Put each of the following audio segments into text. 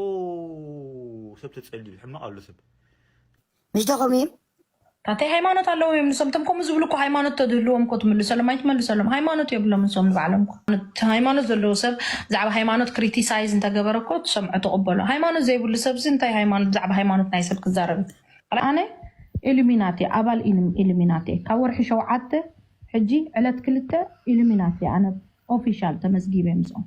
ኡው ሰብ ተጸልዩ ሕማቅ ኣሎ ሰብ ምሽተኹም እዩ ታተይ ሃይማኖት ኣለዎም እዮም ንሶም ቶም ከምኡ ዝብሉ እኮ ሃይማኖት ተድህልዎም እኮ ትምልሰሎም ኣይትመልሰሎም ሃይማኖት የብሎም ንሶም ንባዕሎም እኮ። እቲ ሃይማኖት ዘለዎ ሰብ ብዛዕባ ሃይማኖት ክሪቲሳይዝ እንተገበረ እኮ ትሰምዖ ትቕበሎ ሃይማኖት ዘይብሉ ሰብ እዚ እንታይ ሃይማኖት ብዛዕባ ሃይማኖት ናይ ሰብ ክዛረብ እዩ? ኣነ ኢሉሚናት እየ ኣባል ኢሉ- ኢሉሚናት እየ ካብ ወርሒ ሸውዓተ ሕጂ ዕለት ክልተ ኢሉሚናት እየ ኣነ ኦፊሻል ተመዝጊበ ምስኦም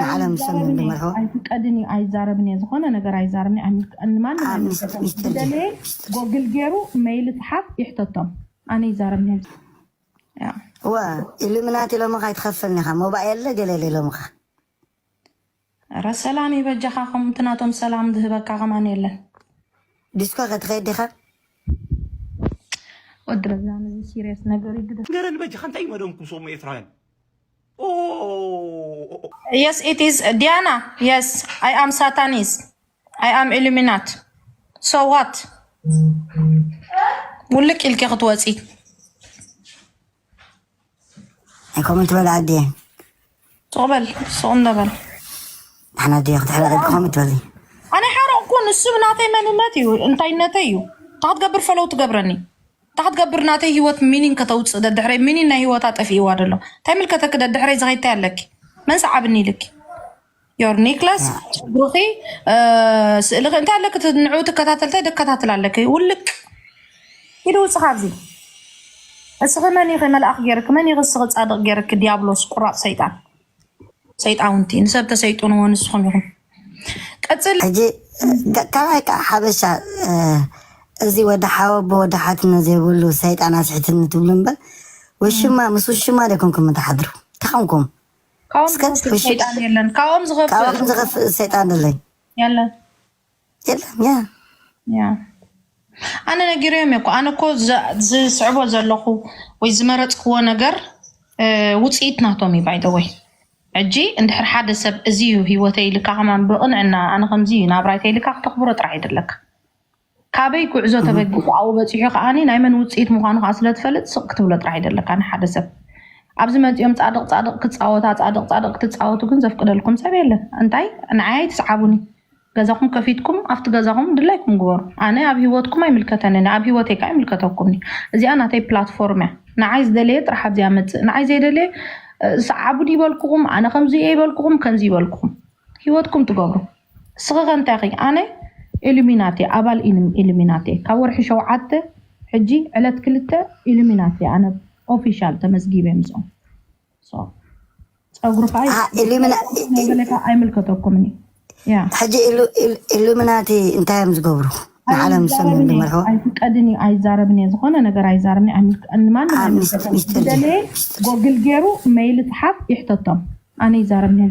ንዓለም ሰሜን ዝመርሖ ኣይፍቀድን እዩ ኣይዛረብን እየ ዝኾነ ነገር ኣይዛረብን እየ ንማንም ኣብ ኣይምልከቶም ሚስጥር ድዩ ዝደለየ ሚስጥር ጎግል ገይሩ መይል ይፅሓፍ ይሕተቶም ኣነ ይዛረብን እየ ያ እወ ኢሉሚናት ኢሎምኻ ኣይትኸፍልን ኢኻ ሞባኤል ለ ገለ ኢሎምኻ ኧረ ሰላም እዩ በጃኻ ከምቲ ናቶም ሰላም ዝህበካ ከማን የለን ዲስኮ ከትኸይድ ዲኻ ወዲ ረዛን እዚ ሲሪየስ ነገር እዩ ግደ ንገረኒ በጃኻ እንታይ እዩ መደምኩም ሰሙ ኤርትራውያን የስ ኢት ኢዝ ዲያና የስ ኣይ ኣም ሳታኒስ ኣይ ኣም ኢሉሚናት ሶ ዋት ውልቅ ኢልኪ ክትወፂ ከምኡ ትበል ዓዲ ትቕበል ስቕ እንደበል ንሕና ዲ ክትሕረቂ ከምኡ ትበሊ ኣነ ሓረቕኩ ንሱ ናተይ መንነት እዩ እንታይነተይ እዩ እንታይ ክትገብር ፈለው ትገብረኒ እንታይ ክትገብር ናተይ ሂወት ሚኒን ከተውፅእ ደድሕረይ ሚኒን ናይ ሂወታ ጠፊእዋ ደሎ እንታይ ይምልከተኪ ደድሕረይ ዝከይድ እንታይ ኣለኪ መን ሰዓብኒ ኢልኪ ዮር ኒክለስ ጉሩኺ ስእልኺ እንታይ ኣለኪ እቲ ንዕኡ ትከታተል እንታይ ደከታትል ኣለኪ ውልቅ ኢዱ ውፅ ካብዚ እስኺ መን ኢኺ መልኣኽ ገይርኪ መን ኢኺ እስኺ ፃድቕ ገይርኪ ዲያብሎስ ቁራፅ ሰይጣን ሰይጣውንቲ ንሰብ ተሰይጥንዎ ንስኹም ኢኹም። ቀፅል ሕጂ ካልኣይ ከዓ ሓበሻ እዚ ወዲ ሓወቦ ወዲ ሓትኖ ዘይብሉ ሰይጣን ኣስሒትኒ ትብሉ እምበር ውሽማ ምስ ውሽማ ዶ ኮንኩም እትሓድሩ እንታይ ኮንኩም? ካብኦም እስከ ዝኸፍእ ውሽጣ- ሰይጣን የለን ካብኦም ካብኦም ዝኸፍእ ዝኸፍእ ሰይጣን ኣለይ የለን የለን ያ ያ ኣነ ነጊረዮም እየ እኮ ኣነ እኮ ዝ- ዝስዕቦ ዘለኹ ወይ ዝመረፅክዎ ነገር እ፣ ውፅኢት ናቶም እዩ ባይደወይ ሕጂ እንድሕር ሓደ ሰብ እዚ እዩ ሂወተይ ኢልካ ከማ ብቕንዕና ኣነ ከምዚ እዩ ናብራይ ተይልካ ክተኽብሮ ጥራሕ ይድለካ ካበይ ጉዕዞ ተበጊሱ ኣብኡ በፂሑ ከዓ ናይ መን ውፅኢት ምኳኑ ከዓ ስለትፈልጥ ስቕ ክትብሎ ጥራሕ ይደለካ ንሓደ ሰብ ኣብዚ መፂኦም ፃድቕ ፃድቕ ክፃወታ ፃድቕ ፃድቕ ክትፃወቱ ግን ዘፍቅደልኩም ሰብ የለን እንታይ ንዓይ ኣይትስዓቡኒ ገዛኹም ከፊትኩም ኣብቲ ገዛኹም ድላይኩም ግበሩ ኣነ ኣብ ሂወትኩም ኣይምልከተንን ኣብ ሂወተይ ካኣ ይምልከተኩም እዚኣ ናተይ ፕላትፎርም እያ ንዓይ ዝደለየ ጥራሕ ኣብዚኣ መፅእ ንዓይ ዘይደለየ ሰዓቡኒ ይበልኩኹም ኣነ ከምዚ እየ ይበልኩኹም ከምዚ ይበልኩኹም ሂወትኩም ትገብሩ እስኺ ከ እንታይ ኺ ኣነ ኢሉሚናቴ ኣባል ኢሉሚናቴ ካብ ወርሒ ሸውዓተ ሕጂ ዕለት ክልተ ኢሉሚናቴ ኣነ ኦፊሻል ተመዝጊበ ምስኦም ፀጉሪ ከዓ ኣይምልከተኩምን እዩ ሕጂ ኢሉሚናቲ እንታይ እዮም ዝገብሩ ንዓለም ዝሰሙ ዝመርሑ ኣይፍቀድን እዩ ኣይዛረብን እየ ዝኾነ ነገር ኣይዛረብን ንማንም ኣይምልከተኩምደለየ ጎግል ገይሩ መይል ፅሓፍ ይሕተቶም ኣነ ይዛረብን እየ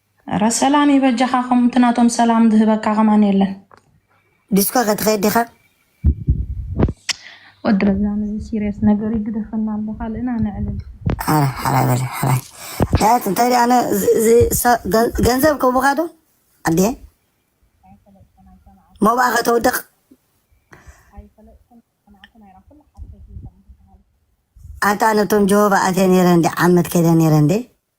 እረ ሰላም ይበጃኻ ከምቲ ናቶም ሰላም ዝህበካ ከማን የለን። ዲስኮ ከትኸይድ ዲኻ? ወዲ ረዛን እዚ ሲሪየስ ነገር እዩ ግደፈና ኣሎ ካልእና ነዕልል። ሓራይ ሓራይ በለ ሓራይ ዳያት እንታይ ደኣ ኣነ እዚ- እዚ ሰ- ገን- ገንዘብ ከቡኻ ዶ ኣዴ ሞባኣ ከተውድቕ ኣታ ነቶም ጀሆባ ኣትየ ነይረ እንዴ ዓመት ከይደ ነይረ እንዴ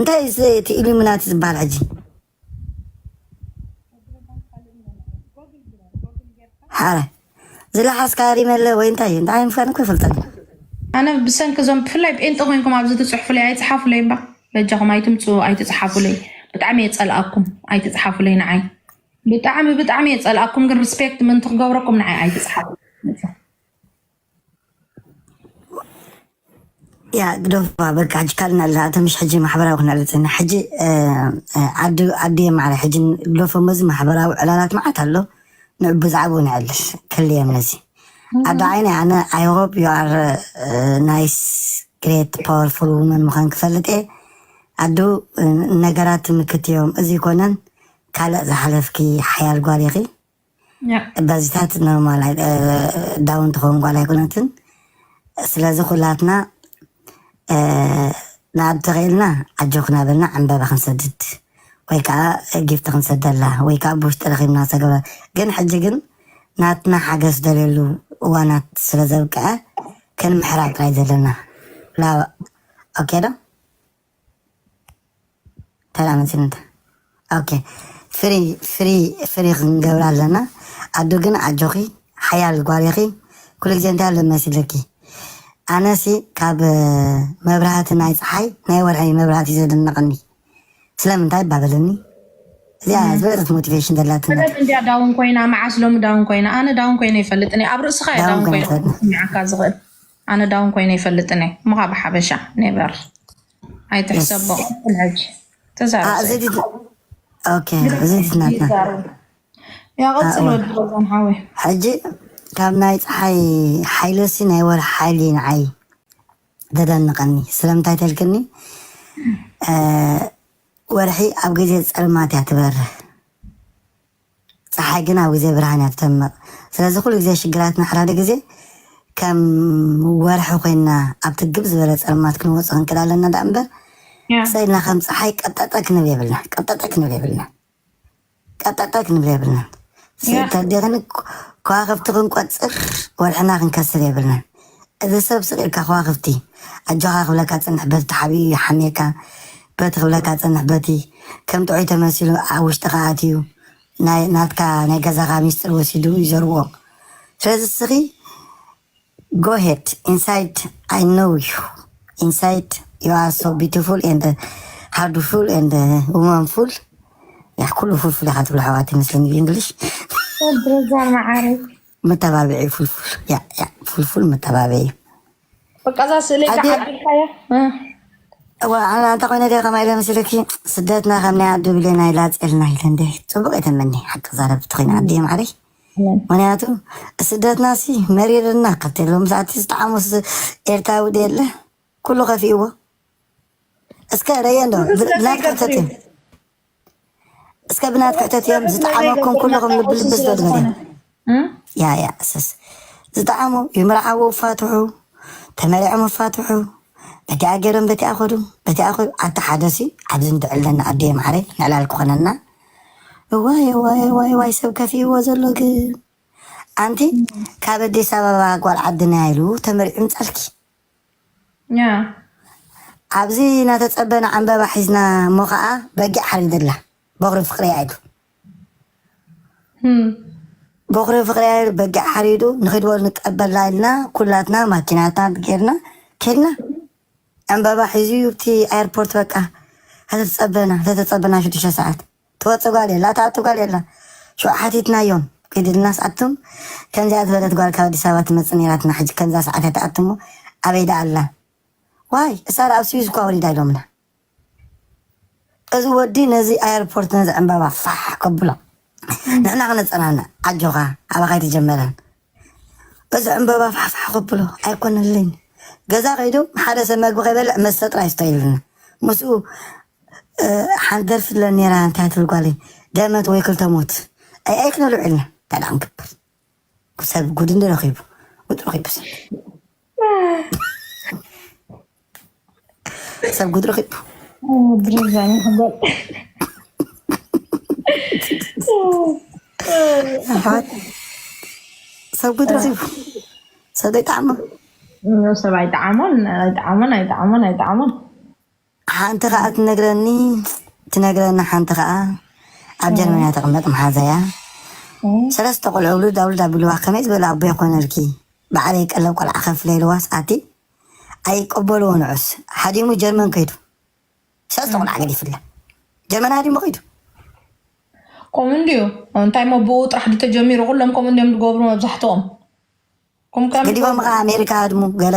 እንታይ እዩ ስ- እቲ ኢሉሚናቲ ዝበሃል ሕጂ ሓረ ዝለሓስካ ሪመለ ወይ እንታይ እዩ እንታይ ምፋን እኮ ይፈልጠን እዩ ኣነ ብሰንኪ እዞም ብፍላይ ጴንጠ ኮይንኩም ኣብዚ ትፅሕፉለይ ኣይፅሓፉለይ እምባ በጃኹም ኣይትምፁ ኣይትፅሓፉለይ ብጣዕሚ እየ ፀልኣኩም ኣይትፅሓፉለይ ንዓይ ብጣዕሚ ብጣዕሚ እየ ፀልኣኩም ግን ሪስፔክት ምእንቲ ክገብረኩም ንዓይ ኣይትፅሓፉ ያ ግደፎ በቃ ሕጂ ካልእ ናብዚ ኣቶ ምሽ ሕጂ ማሕበራዊ ክነርፅና ሕጂ እ፣ እ፣ ዓዲ ዓዲ የማዕረ ሕጂ ግደፎ መዚ ማሕበራዊ ዕላላት መዓት ኣሎ ንዑ ብዛዕባኡ ንዕልል ከልየም ነዚ ኣዶ ዓይነይ ኣነ ኣይ ሆፕ ዩ ኣር ናይስ ግሬት ፓወርፉል ውመን ምዃን ክፈልጥ እየ ኣዱ እ፣ ነገራት ምክት እዮም እዚ ኮነን ካልእ ዝሓለፍኪ ሓያል ጓል ኢኺ ባዚታት ኖርማል ዳውን ትኸውን ጓል ኣይኮነትን ስለዚ ኩላትና ንኣብ ተኽኢልና ኣጆኽና በልና ዕምበባ ክንሰድድ ወይ ከዓ ጊፍቲ ክንሰደላ ወይ ከዓ ብውሽጢ ረኺብና ሰገበ ግን ሕጂ ግን ናትና ሓገዝ ደልየሉ እዋናት ስለ ዘብቅዐ ክንምሕራ ጥራይ ዘለና ላብ ኦኬ ዶ ተራ መሲልንታ ኦኬ ፍሪ ፍሪ ፍሪ ክንገብራ ኣለና ኣዱ ግን ኣጆኺ ሓያል ጓል ኢኺ ኩሉ ግዜ እንታይ ኣሎ መሲለኪ ኣነሲ ካብ መብራህቲ ናይ ፀሓይ ናይ ወርሒ መብራህቲ እዩ ዘደነቐኒ ስለምንታይ ባበለኒ እዚኣ ዝበለፀት ሞቲቬሽን ዘላትና ሰበት እንድያ ዳውን ኮይና መዓስ ሎሚ ዳውን ኮይና ኣነ ዳውን ኮይነ ይፈልጥኒ ኣብ ርእስኻ እየ ዳውን ዳውን ኮይነ ኮይነ ትፈልጥኒ። ክስምዓካ ዝኽእል ኣነ ዳውን ኮይነ ኣይፈልጥን እየ እሞ ካብ ሓበሻ ኔቨር ኣይትሕሰቦ ቀፅል ሕጂ ተዛረብ እዚ ሰይድ ድት- ኦኬ እዚ ድትናትና ይዛረብ ያ ቀፅል ኣእወ ወዲ ረዛን ሓወይ ሕጂ ካብ ናይ ፀሓይ ሓይለሲ ናይ ወርሒ ሓይሊ ንዓይ ተደንቀኒ ስለምንታይ ተልክኒ ወርሒ ኣብ ግዜ ፀልማት እያ ትበርህ ጸሓይ ግን ኣብ ግዜ ብርሃን እያ ትደምቕ። ስለዚ ኩሉ ግዜ ሽግራትና ሕራዲ ግዜ ከም ወርሒ ኮይንና ኣብቲ ግብ ዝበለ ጸልማት ክንወጾ ክንክእል ኣለና ደኣ እምበር ጸ ኢልና ከም ጸሓይ ቀጠጠ ክንብል የብልና ቀጠጠ ክንብል የብልና ቀጠጠ ክንብል የብልና ስእተዴኽን ከዋኽብቲ ክንቆጽር ወርሕና ክንከስር የብልናን እዚ ሰብ ስቅ ኢልካ ከዋክብቲ ኣጆካ ክብለካ ዝጸንሕ በቲ ተሓቢኡ ይሓምየካ በቲ ክብለካ ዝጸንሕ በቲ ከም ጥዑይ ተመሲሉ ኣብ ውሽጥካ ኣትዩ ናይ ናትካ ናይ ገዛካ ሚስጥር ወሲዱ እዩ ዘርዎ ስለዚ እስኪ go ahead inside I know you inside you are so beautiful and hardful and womanful ያህ ኩሉ ፉልፉል ኢኻ ትብሎ ኣሕዋት ይመስለኒ ብእንግሊሽ ረዛ መዓረይ መተባብዒ ፍልፍል ያ ያ ፍልፍል መተባብዒ በቃ እዛ ስእለይ ኣዲ- ክዓድልካያ እንተ ኮይነ ገ ከማይ ኢለ መስለኪ ስደትና ከም ናይ ኣዱ ብሌና ኢላ ፀልና ኢለ እንደ ፅቡቅ የተመኒ ሓቂ ዛረብ ትኮይና ኣዲ ማዕረይ ምክንያቱ ስደትና ሲ መሪርና ካብቲ ሎም ሰዓት ዝተዓሙ ስ- ኤርትራዊ ዶ የለ ኩሉ ከፊእዎ እስከ ረየ እንዶ ብላትካ ተጥም እስከ ብናት ክሕተት እዮም ዝጠዓመኩም ኩልኹም ልቢ ልቢ ዝበልበለ ያ ያ እሰስ ዝጠዓሙ ይምርዓዎ ፋትሑ ተመሪዖም ፋትሑ በቲኣ ገይሮም በቲኣ ኸዱ በቲኣ ኸዱ ኣቲ ሓደ ሲ ኣብዚ ንድዕለና ኣዲየ ማዕረይ ንዕላል ክኾነና እዋይ እዋይ እዋይ እዋይ ሰብ ከፊእዎ ዘሎ ግን ኣንቲ ካብ ኣዲስ ኣበባ ጓል ዓድና ኢሉ ተመሪዑ ምፃልኪ ኣብዚ ናተጸበና ዕንበባ ሒዝና እሞ ከኣ በጊዕ ሓሪድላ ቦኽሪ ፍቅርያ ኢሉ ቦኽሪ ፍቅርያ ኢሉ በጊዕ ሓሪዱ ንኺድ በሉ ንቀበላ ኢልና ኩላትና ማኪናታት ጌርና ኬድና ዕንበባ ሒዙ ዩ ኣብቲ ኣየርፖርት በቃ ተተጸበና ተተጸበና ሽዱሽተ ሰዓት ትወጽእ ጓል የላ ትኣቱ ጓል የላ ሽዑ ሓቲትናዮም ኪድ ኢልናስ ኣቱም ከምዚኣ ዝበለት ጓል ካብ ኣዲስ ኣበባ ትመጽእ ኔራትና ሕጂ ከምዛ ሰዓት እያ ትኣቱ እሞ ኣበይ ደኣ ኣላ ዋይ እሳ ኣብ ስዊዝ እኳ ወሊዳ ኢሎምና እዚ ወዲ ነዚ ኣየርፖርት ነዚ ዕምባባ ፋሕ ከብሎ ንሕና ክነጸናንዕ ኣጆኻ ኣባኻ ኣይተጀመረን እዚ ዕምበባ ፋሕፋሕ ከብሎ ኣይኮነለይን ገዛ ከይዱ ሓደ ሰብ መግቢ ከይበልዕ መስተ ጥራይ ስተ ይብለኒ ምስኡ ሓንቲ ደርፊ ትብለኒ ነይራ እንታይ ትብል ጓለይ ደመት ወይ ክልተ ሞት ኣይ ኣይ ክነልዑ ኢልና እንታይ ደኣ ክንገብር ሰብ ጉድ እንዲ ረኺቡ ጉድ ረኺቡ ሰብ ሰብ ጉድ ረኺቡ ሰብ ጉድ ረኺቡ ሰብ ዘይጠዓሞ ሰብ ኣይጠዓሞን ኣይጠዓሞን ኣይጠዓሞን ኣይጠዓሞን ሓንቲ ከኣ ትነግረኒ ትነግረኒ ሓንቲ ከኣ ኣብ ጀርመን እያ ተቕመጥ መሓዛያ ሰለስተ ቆልዑ ውሉድ ኣውሉድ ኣቢልዋ ከመይ ዝበለ ኣቦ ይኾነልኪ ባዕለይ ቀለብ ቆልዓ ከፍለ ኢልዋስ ኣቲ ኣይቀበልዎ ንዑስ ሓዲሙ ጀርመን ከይዱ ሰለስተ ቆልዓ ገዲፍላ ጀርመን ሃዲሙ ከይዱ ከምኡ እንድዩ እንታይ ሞ ብኡ ጥራሕ ድ ተጀሚሩ ኩሎም ከምኡ እንዲዮም ዝገብሩ መብዛሕትኦም ገዲቦም ከዓ ኣሜሪካ ሃድሙ ገለ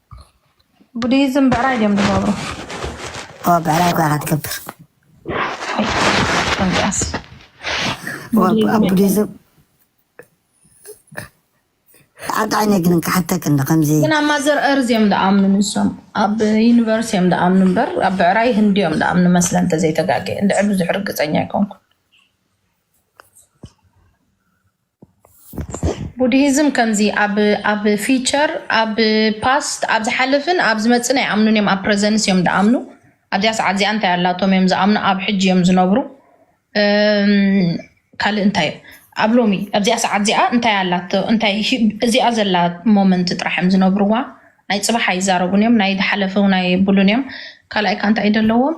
ቡዲዝም ብዕራይ ድዮም ዝገብሩ? ብዕራይ ጓኻ ትገብር ቡዲዝም ኣጣዕነ ግን ክሓተክ እንዶ ከምዚ ግን ኣብ ማዘር እርዝ እዮም ዝኣምኑ ንሶም ኣብ ዩኒቨርስ እዮም ዝኣምኑ እምበር ኣብ ብዕራይ ህንዲ እዮም ዝኣምኑ መስለ እንተዘይተጋገ እንድዕር ብዙሕ ርግፀኛ ኣይኮንኩ ቡድሂዝም ከምዚ ኣብ ኣብ ፊቸር ኣብ ፓስት ኣብ ዝሓለፍን ኣብ ዝመፅን ኣይኣምኑን እዮም ኣብ ፕረዘንስ እዮም ዝኣምኑ ኣብዚኣ ሰዓት እዚኣ እንታይ ኣላቶም እዮም ዝኣምኑ ኣብ ሕጂ እዮም ዝነብሩ ካልእ እንታይ እዩ ኣብ ሎሚ ኣብዚኣ ሰዓት እዚኣ እንታይ ኣላቶ እንታይ እዚኣ ዘላ ሞመንት ጥራሕ እዮም ዝነብርዋ ናይ ፅባሕ ኣይዛረቡን እዮም ናይ ዝሓለፈ እውን ኣይብሉን እዮም ካልኣይ ከዓ እንታይ እዩ ዘለዎም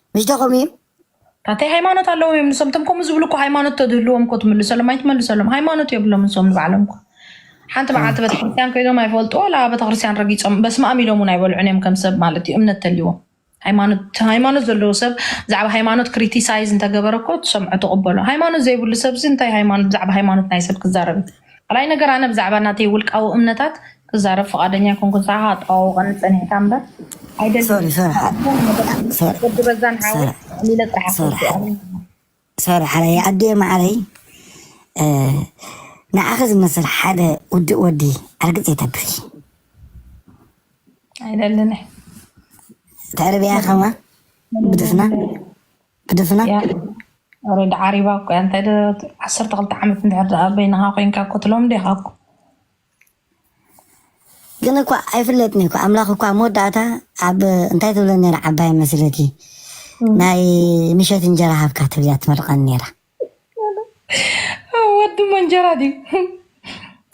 ምሽደኹም እዩ ኣተይ ሃይማኖት ኣለዎም እዮም ንሶም ቶም ከምኡ ዝብሉ እኮ ሃይማኖት ተድህልዎም እኮ ትምልሰሎም ኣይትመልሰሎም ሃይማኖት የብሎም ንሶም ንባዕሎም እኮ ሓንቲ መዓልቲ ቤተክርስትያን ኮይዶም ኣይፈልጡ ዋላ ቤተክርስትያን ረጊፆም በስመ ኣም ኢሎም እውን ኣይበልዑን እዮም ከም ሰብ ማለት እዩ እምነት ተልዎም ሃይማኖት ዘለዎ ሰብ ብዛዕባ ሃይማኖት ክሪቲሳይዝ እንተገበረ እኮ ትሰምዖ ትቕበሎ ሃይማኖት ዘይብሉ ሰብዚ እንታይ ሃይማኖት ብዛዕባ ሃይማኖት ናይ ሰብ ክዛረብ ካልኣይ ነገር ኣነ ብዛዕባ ናተይ ውልቃዊ እምነታት ክዛረብ ፍቓደኛ ኣይኮንኩን። ሰዓኻ ኣጠዋውቐኒ ጸኒሕካ እምበር ኣይደልን። ሶሪ ሶሪ ሓ- ሶሪ ወዲ በዛን ሓወይ ሰራ- ዕሊለ ጥራሕ ሰራ- ኣፈልጥኣኒ። ሶሪ ሓለይ ኣዴ ማዓረይ እ፣ ንዓኺ ዝመስል ሓደ ውድእ ወዲ ኣርግፅ የተብኺ ኣይደልን እየ። ተዕርብያ ከማ ብድፍና ብድፍና ኦሬዲ ዓሪባ እኮ እያ እንታይ ዓሰርተ ክልተ ዓመት እንድሕር ደኣ በይንኻ ኮንካ እኮ ትለምዶ ኢኻ እኮ ግን እኳ ኣይፍለጥን እኮ ኣምላኽ እኳ መወዳእታ ኣብ እንታይ ትብለ ነራ ዓባይ መስለኪ ናይ ምሸት እንጀራ ሃብካ ትብልያ ትመርቀኒ ነራ ወዲ መንጀራ ድዩ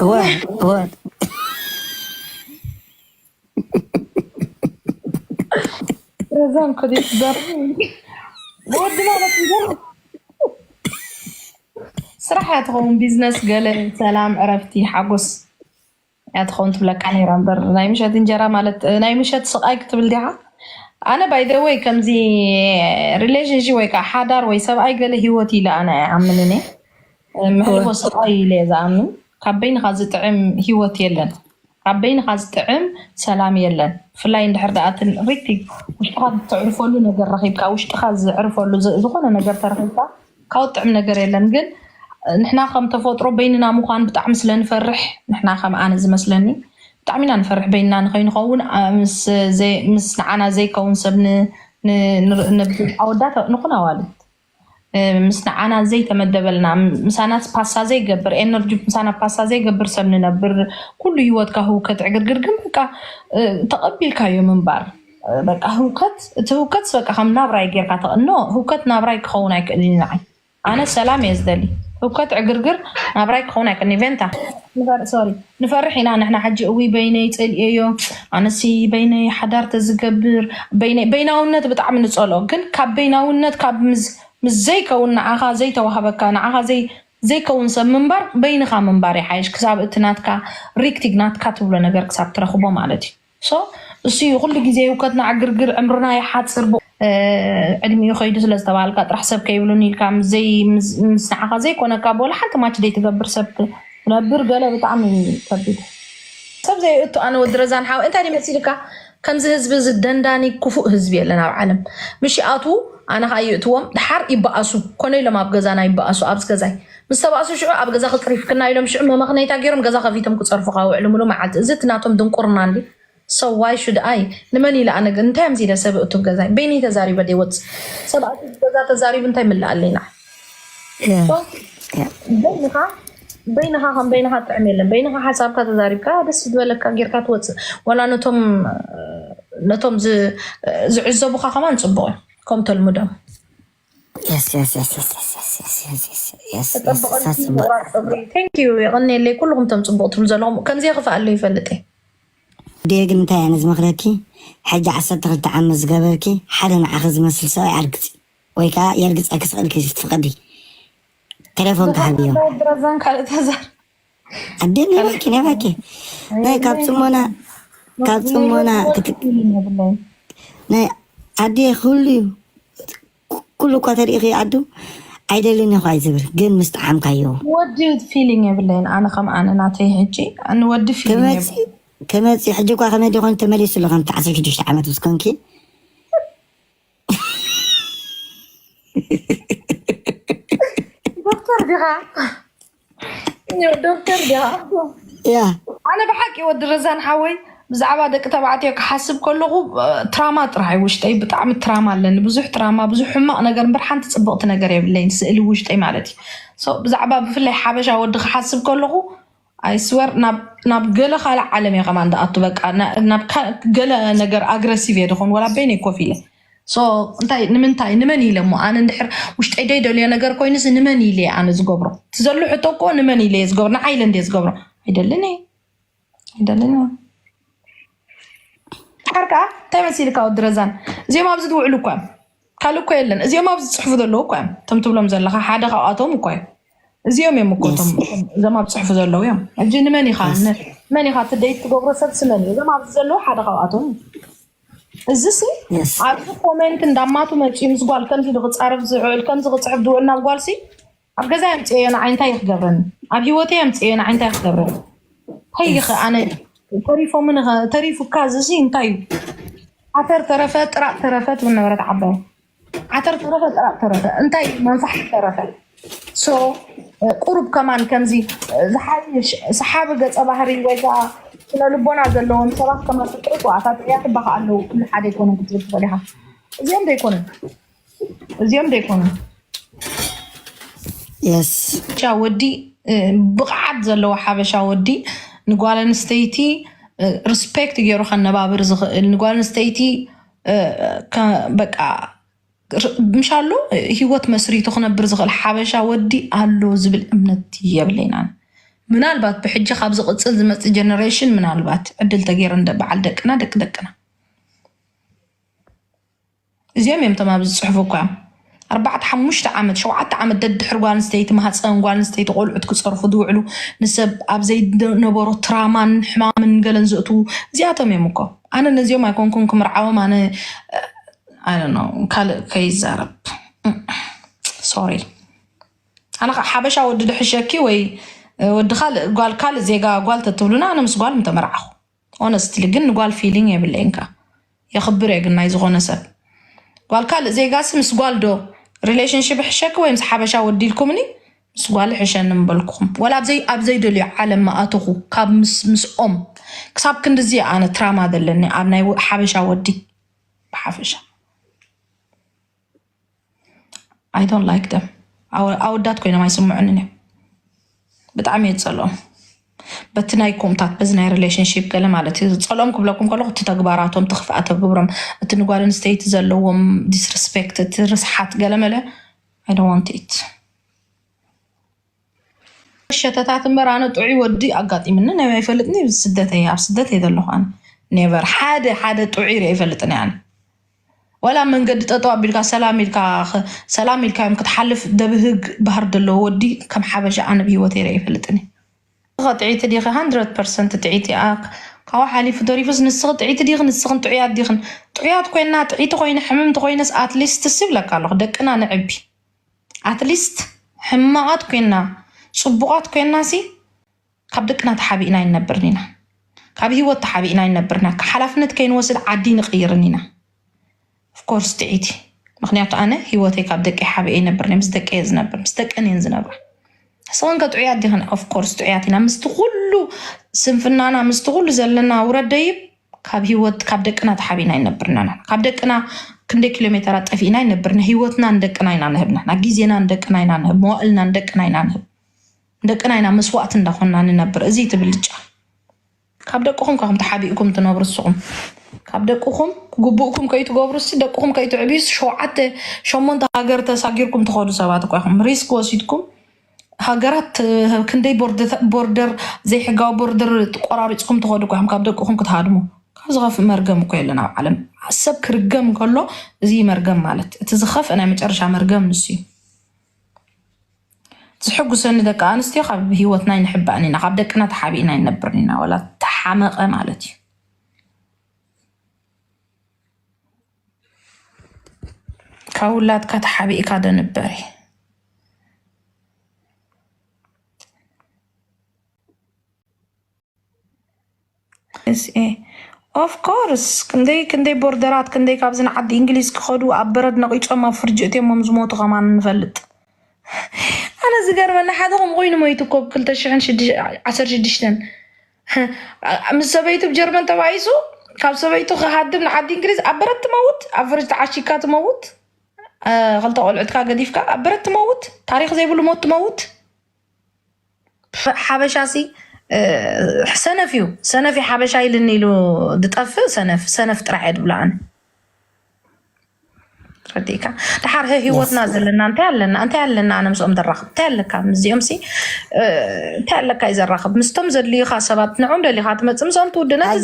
እወ እወ ረዛን ኮዲ ትደር ወዲ ማለት እንጀራ ስራሕ እያ ትኸውን ቢዝነስ ገለ ሰላም ዕረፍቲ ሓጎስ እያ ትኸውን ትብለካ ነይራ እምበር ናይ ምሸት እንጀራ ማለት ናይ ምሸት ስቃይ ክትብል ዲኻ ኣነ ባይ ዘ ወይ ከምዚ ሪሌሽንሺፕ ወይ ከዓ ሓዳር ወይ ሰብኣይ ገለ ሂወት ኢለ ኣነ ኣይኣምን እኔ እወ መሕልፎ ስቃይ ኢለ እየ ዝኣምን ካብ በይንኻ ዝጥዕም ሂወት የለን ካብ በይንኻ ዝጥዕም ሰላም የለን ብፍላይ እንድሕር ደኣ እቲ ሪቲ ውሽጥኻ እተዕርፈሉ ነገር ረኺብካ ውሽጥኻ ዘዕርፈሉ ዝ- ዝኾነ ነገር ተረኺብካ ካልእ ጥዑም ነገር የለን ግን ንሕና ከም ተፈጥሮ በይንና ምዃን ብጣዕሚ ስለ ንፈርሕ ንሕና ከም ኣነ ዝመስለኒ ብጣዕሚ ኢና ንፈርሕ በይንና ንኸይንኸውን ምስ ንዓና ዘይከውን ሰብ ኣወዳት ንኹን ኣዋልድ ምስ ንዓና ዘይተመደበልና ምሳና ፓሳ ዘይገብር ኤነርጂ ምሳና ፓሳ ዘይገብር ሰብ ንነብር ኩሉ ሂወትካ ህውከት ዕግርግር ግን በቃ ተቐቢልካዮ ምንባር በቃ ህውከት እቲ ህውከትስ በቃ ከም ናብራይ ጌርካ ተቐኖ ህውከት ናብራይ ክኸውን ኣይክእልን ንዓይ ኣነ ሰላም እየ ዝደሊ ህውከት ዕግርግር ናብራይ ክኸውን ኣይክእልን ቬንታ ሶሪ ንፈርሕ ኢና ንሕና ሕጂ እውይ በይነይ ፀልኤዮ ኣነሲ በይነይ ሓዳር ተዝገብር በይነይ በይናውነት ብጣዕሚ ንፀልኦ ግን ካብ በይናውነት ካብ ምስ ምስ ዘይከውን ንዓኻ ዘይተዋህበካ ንዓኻ ዘይ ዘይከውን ሰብ ምንባር በይንኻ ምንባር ይሓይሽ ክሳብ እቲ ናትካ ሪክቲግ ናትካ ትብሎ ነገር ክሳብ ትረኽቦ ማለት እዩ ሶ እሱ እዩ ኩሉ ግዜ ህውከትና ዕግርግር ዕምርና ይሓፅር ብኡ ዕድሚኡ ከይዱ ስለ ዝተባሃልካ ጥራሕ ሰብ ከይብሉኒ ኢልካ ምስ ዘይ- ምስ ምስ ንዓኻ ዘይኮነካ ብወላ ሓንቲ ማች ዘይትገብር ሰብ ክትነብር ገለ ብጣዕሚ እዩ ከቢድ ሰብ ዘይእቱ ኣነ ወዲ ረዛን ሓወይ እንታይ ድዩ መሲልካ ከምዚ ህዝቢ እዚ ደንዳኒ ክፉእ ህዝቢ የለን ኣብ ዓለም ምሽ ይኣትዉ ኣነ ከዓ ይእትዎም ድሓር ይበኣሱ ኮነ ኢሎም ኣብ ገዛና ይበኣሱ ኣብዚ ገዛይ ምስ ተባእሱ ሽዑ ኣብ ገዛኺ ጽሪፍክና ኢሎም ሽዑ መመኽነይታ ጌሮም ገዛ ከፊቶም ክጸርፉኻ ውዕሉ ምሉእ መዓልቲ እዚ እቲ ናቶም ድንቁርና እንድዩ so why should i ንመን ኢለ ኣነ እንታይ ኣምሲለ ሰብ እእቱ ኣብ ገዛይ በይነይ ተዛሪበ ደይወጽእ ሰብ ኣትዩ ኣብ ገዛ ተዛሪቡ እንታይ ይምለኣለይ ንዓይ so በይንኻ በይንኻ ከም በይንኻ ጥዕም የለን በይንኻ ሓሳብካ ተዛሪብካ ደስ ዝበለካ ጌርካ ትወጽእ ወላ ነቶም ነቶም ዝ- ዝዕዘቡኻ ከማን ጽቡቕ እዩ ከም ተልምዶም ተፀብቐልኪ ምቑራፅ ፀጉሪ Thank you የቐንየለይ ኩሉኹም እቶም ፅቡቕ ትብሉ ዘለኹም ከምዚኣ ክፍኣለይ ይፈልጥ እየ። ዴቭ ግን እንታይ ኣነ ዝመክረኪ ሕጂ ዓሰርተ ክልተ ዓመት ዝገበርኪ ሓደ ንዓኺ ዝመስል ሰብኣይ ኣርግጺ ወይ ከኣ የርግጸኪ ስቅልኪ ትፍቅዲ ተሌፎንኪ ሃብዮም። ኣላህ ድረዛን ካልእ ተዛር ኣዴ ነባኪ ነባኪ ናይ ካብ ፅሞና ካብ ፅሞና ናይ ኣዴ ኩሉ እዩ ኩሉ እኳ ተሪኢኺ ኣዱ ኣይደልን እኳ እዩ ዝብል ግን ምስ ጠዓምካዮ ወዲ ፊሊንግ የብለይን ኣነ ከም ኣነ ናተይ ሕጂ ንወዲ ፊሊንግ ከመፂ ሕጂ እኳ ከመይ ዲኮን ተመሊሱ ኣሎ ከምቲ ዓሰርተ ሽዱሽተ ዓመት ምስ ኮንኪ ዶክተር ዲኻ ዶክተር ድያ እያ ኣነ ብሓቂ ወዲ ረዛን ሓወይ ብዛዕባ ደቂ ተባዕትዮ ክሓስብ ከለኹ እ፣ ትራማ ጥራሕ እዩ ውሽጠይ ብጣዕሚ ትራማ ኣለኒ ብዙሕ ትራማ ብዙሕ ሕማቕ ነገር እምበር ሓንቲ ፅብቕቲ ነገር የብለይን ስእሊ ውሽጠይ ማለት እዩ So፣ ብዛዕባ ብፍላይ ሓበሻ ወዲ ክሓስብ ከለኹ ኣይስወር ናብ ገለ ካልእ ዓለም እየ ከማን ዝኣቱ በቃ ና- ናብ ካ- ገለ ነገር ኣግረሲቭ እየ ድኾን ወላ በይነይ ኮፍ ኢለ እንታይ ንምንታይ ንመን ኢለ እሞ ኣነ እንድሕር ውሽጠይ ዘይደልዮ ነገር ኮይኑ እዚ ንመን ኢለ እየ ኣነ ዝገብሮ እቲ ዘሎ ሕቶ እኮ ንመን ኢለ እየ ዝገብሮ ንዓይ ኢለ እንድየ ዝገብሮ ኣይደልን እየ ኣይደልን እየ ድሓር ከዓ እንታይ መሲልካ ወዲ ረዛን እዚኦም ኣብዚ ዝውዕሉ እኳ እዮም ካልእ እኮ የለን እዚኦም ኣብዚ ዝፅሕፉ ዘለዉ እኳ እዮም እቶም ትብሎም ዘለካ ሓደ ካብኣቶም እኳ እዩ እዚኦም እዮም እኮ እቶም እዞም ኣብ ፅሑፉ ዘለዉ እዮም ሕጂ ንመን ኢካ መን ኢካ እቲ ደይት ትገብሮ ሰብሲ መን እዩ እዞም ኣብዚ ዘለዉ ሓደ ካብኣቶም እዩ እዚሲ ኣብዚ ኮሜንት እንዳማቱ መፂኡ ምስ ጓል ከምዚ ኢሉ ክፃረፍ ዝውዕል ከምዚ ክፅሕፍ ዝውዕል ናብ ጓልሲ ኣብ ገዛ የምፅኤዮ ንዓይ እንታይ እዩ ክገብረኒ ኣብ ሂወተይ የምፅኤዮ ንዓይ እንታይ እዩ ክገብረኒ ከይኸ ኣነ ተሪፎምን ተሪፉካ እዚሲ እንታይ እዩ ዓተር ተረፈ ጥራጥ ተረፈ ትብል ነበረት ዓባይ ዓተር ተረፈ ጥራቅ ተረፈ እንታይ መንፋሕ ተረፈ ቁሩብ ከማን ከምዚ ዝሓይሽ ሰሓቢ ገፀ ባህሪ ወይ ከዓ ስነ ልቦና ዘለዎም ሰባት ከማ ፍቅሪ ቁዓታት እያ ትባካ ኣለዉ ኩሉ ሓደ ይኮነ ክትብል ትኽእል ኢካ እዚኦም ዘይኮኑ እዚኦም ዘይኮኑ ቻ ወዲ ብቕዓት ዘለዎ ሓበሻ ወዲ ንጓል ኣንስተይቲ ሪስፔክት ገይሩ ከነባብር ዝኽእል ንጓል ኣንስተይቲ በቃ ምሻሎ ሂወት መስሪቱ ክነብር ዝኽእል ሓበሻ ወዲ ኣሎ ዝብል እምነት የብለይን ኣነ። ምናልባት ብሕጂ ካብ ዝቕፅል ዝመፅእ ጀነሬሽን ምናልባት ዕድል ተገይሩ እንደ በዓል ደቅና ደቂ ደቅና እዚኦም እዮም እቶም ኣብዚ ዝፅሕፉ እኳ እዮም። ኣርባዕተ ሓሙሽተ ዓመት ሸውዓተ ዓመት ደድሕሪ ጓል ኣንስተይቲ ማህፀን ጓል ኣንስተይቲ ቆልዑት ክፀርፉ ዝውዕሉ ንሰብ ኣብ ዘይነበሮ ትራማን ሕማምን ገለን ዘእትዉ እዚኣቶም እዮም እኮ ኣነ ነዚኦም ኣይኮንኩን ክምርዓዎም ኣነ ካልእ ከይዛረብ ሶሪ ኣነ ከዓ ሓበሻ ወዲ ድሕሸኪ ወይ ወዲ ካልእ ጓል ካልእ ዜጋ ጓል ተትብሉና ኣነ ምስ ጓል ምተመርዓኹ ሆነስትሊ ግን ንጓል ፊሊንግ የብለይን ከኣ የኽብር እየ ግን ናይ ዝኾነ ሰብ ጓል ካልእ ዜጋሲ ምስ ጓል ዶ ሪሌሽንሽፕ ይሕሸኪ ወይ ምስ ሓበሻ ወዲ ኢልኩምኒ ምስ ጓል ይሕሸኒ ምበልኩኹም ወላ ኣብዘይ ኣብዘይደልዮ ዓለም ምኣተኹ ካብ ምስ ምስኦም ክሳብ ክንድዚ እየ ኣነ ትራማ ዘለኒ ኣብ ናይ ሓበሻ ወዲ ብሓፈሻ ኣይ ዶንት ላይክ ደም ኣወዳት ኮይኖም ኣይስምዑንን እዮም ብጣዕሚ እየ ዝፀልኦም በቲ ናይ ኮምታት በዚ ናይ ሪሌሽንሽፕ ገለ ማለት እዩ ዝፀልኦም ክብለኩም ከለኩ እቲ ተግባራቶም እቲ ክፍኣተ ግብሮም እቲ ንጓል ኣንስተይቲ ዘለዎም ዲስርስፔክት እቲ ርስሓት ገለመለ ኣይደዋንትት ሸተታት እምበር ኣነ ጥዑይ ወዲ ኣጋጢምኒ ናይ ኣይፈልጥን እዩ። ስደት እየ ኣብ ስደት እየ ዘለኹ ኣነ ኔቨር ሓደ ሓደ ጥዑይ ርአ ይፈልጥን እየ ኣነ ወላ ኣብ መንገዲ ጠጠው ኣቢልካ ሰላም ኢልካ ኸ- ሰላም ኢልካዮም ክትሓልፍ ደብህግ ባህር ዘለዎ ወዲ ከም ሓበሻ ኣነ ብሂወት ይርአ ይፈልጥን እየ። ንስኺ ጥዕይቲ ዲኺ? ሃንድረድ ፐርሰንት ጥዕይቲ እያ። ካብኡ ሓሊፉ ተሪፉስ ንስኺ ጥዕይቲ ዲኺ? ንስኽን ጥዑያት ዲኽን? ጥዑያት ኮይንና ጥዕይቲ ኮይነ ሕምምቲ ኮይነስ ኣትሊስትስ ይብለካ ኣለኹ ደቅና ነዕቢ። ኣትሊስት ሕማቓት ኮይና ጽቡቓት ኮይናሲ ካብ ደቅና ተሓቢእና ኣይንነብርን ኢና ካብ ሂወት ተሓቢእና ኣይንነብርን ኢና ሓላፍነት ከይንወስድ ዓዲ ኣይንቕይርን ኢና ኦፍኮርስ ጥዒቲ ምኽንያቱ ኣነ ሂወተይ ካብ ደቀይ ሓቢኤ ኣይነብርን እየ ምስ ደቀይ እየ ዝነብር ምስ ደቀን እየን ዝነብራ። ንስኽን ከ ጥዑያት ዲኽን? ኦፍ ኮርስ ጥዑያት ኢና። ምስቲ ኩሉ ስንፍናና፣ ምስቲ ኩሉ ዘለና ውረድ ደይብ ካብ ህይወት ካብ ደቅና ተሓቢና ኣይነብርናን ኢና። ካብ ደቅና ክንደይ ኪሎ ሜተራት ጠፊእና ኣይነብርና። ህይወትና ንደቅና ኢና ንህብ ንሕና። ግዜና ንደቅና ኢና ንህብ። መዋእልና ንደቅና ኢና ንህብ። ንደቅና ኢና መስዋእቲ እንዳኾንና ንነብር። እዚ እቲ ብልጫ። ካብ ደቅኹም እኳኹም ተሓቢእኩም ትነብሩ እስኹም ካብ ደቅኹም ግቡእኩም ከይትገብሩ ሲ ደቅኹም ከይትዕብዩ ሸውዓተ ሸሞንተ ሃገር ተሳጊርኩም ትኸዱ ሰባት እኳ ኢኹም ሪስክ ወሲድኩም ሃገራት ክንደይ ቦርደር ዘይሕጋዊ ቦርደር ቆራሪፅኩም ትኸዱ እኳ ኢኹም ካብ ደቅኹም ክትሃድሙ ካብ ዝኸፍእ መርገም እኮ የለን ኣብ ዓለም ሰብ ክርገም ከሎ እዚ መርገም ማለት እቲ ዝኸፍእ ናይ መጨረሻ መርገም ንሱ እዩ ዝሕጉሰኒ ደቂ ኣንስትዮ ካብ ሂወትና ኣይንሕባእን ኢና ካብ ደቅና ተሓቢእና ኣይንነብርን ኢና ዋላ ተሓመቀ ማለት እዩ። ካብ ውላድካ ተሓቢእካ ዶ ንበር እዩ። ኦፍኮርስ ክንደይ ክንደይ ቦርደራት ክንደይ ካብዚ ንዓዲ እንግሊዝ ክኸዱ ኣብ በረድ ነቒጾም ኣብ ፍርጂ እትዮሞም ዝሞቱ ከማን ንፈልጥ። ኣነ ዝገርመኒ ሓደ ከም ኮይኑ ሞይቱ እኮ ብ ክልተ ሽሕን ዓሰርተ ሽዱሽተን ምስ ሰበይቱ ብ ጀርመን ተባኢሱ ካብ ሰበይቱ ክሃድም ንዓዲ እንግሊዝ ኣብ በረድ ትመውት ኣብ ፍርጅ ተዓሺግካ ትመውት ክልተ ቆልዑትካ ገዲፍካ ኣብ በረድ ትመውት ታሪኽ ዘይብሉ ሞት ትመውት። ሓበሻ ሲ ሰነፍ እዩ ሰነፍ እዩ ሓበሻ ኢልኒ ኢሉ ዝጠፍእ ሰነፍ ሰነፍ ጥራሕ እየ ዝብሎ ኣነ ረዲእካ ድሓር ህሂወትና ዘለና እንታይ ኣለና እንታይ ኣለና ኣነ ምስኦም ዘራኽብ እንታይ ኣለካ ምስዚኦም ሲ እንታይ ኣለካ እዩ ዘራኽብ ምስቶም ዘድልዩካ ሰባት ንዕም ደሊኻ ትመፅእ ምስኦም ትውድነት